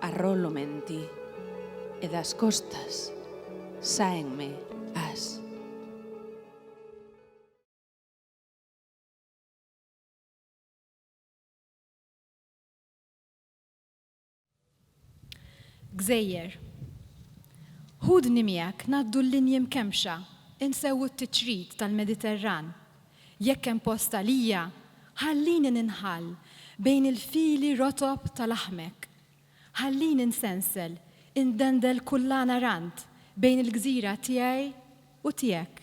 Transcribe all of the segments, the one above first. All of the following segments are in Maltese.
Arrollo menti e das costas sáenme as. Gżejjer. Ħudni miegħek ngħaddu l-linji mkemmxa, insewwu t-tiċrit tal-Mediterran, Jekk hemm post għalija, ħallini ninħall bejn il-fili rotob ta' laħmek. Ħallini nsensel, indendel kullana rand bejn il-gżira tiegħi u tiegħek.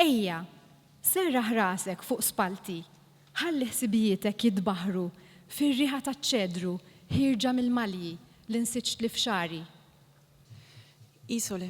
Ejja, serraħ rasek fuq spallti, ħalli ħsibijietek jitbaħħru fir-riħa taċ-ċedru ħierġa mill-malji li nsiġtli f'xagħri. Isole.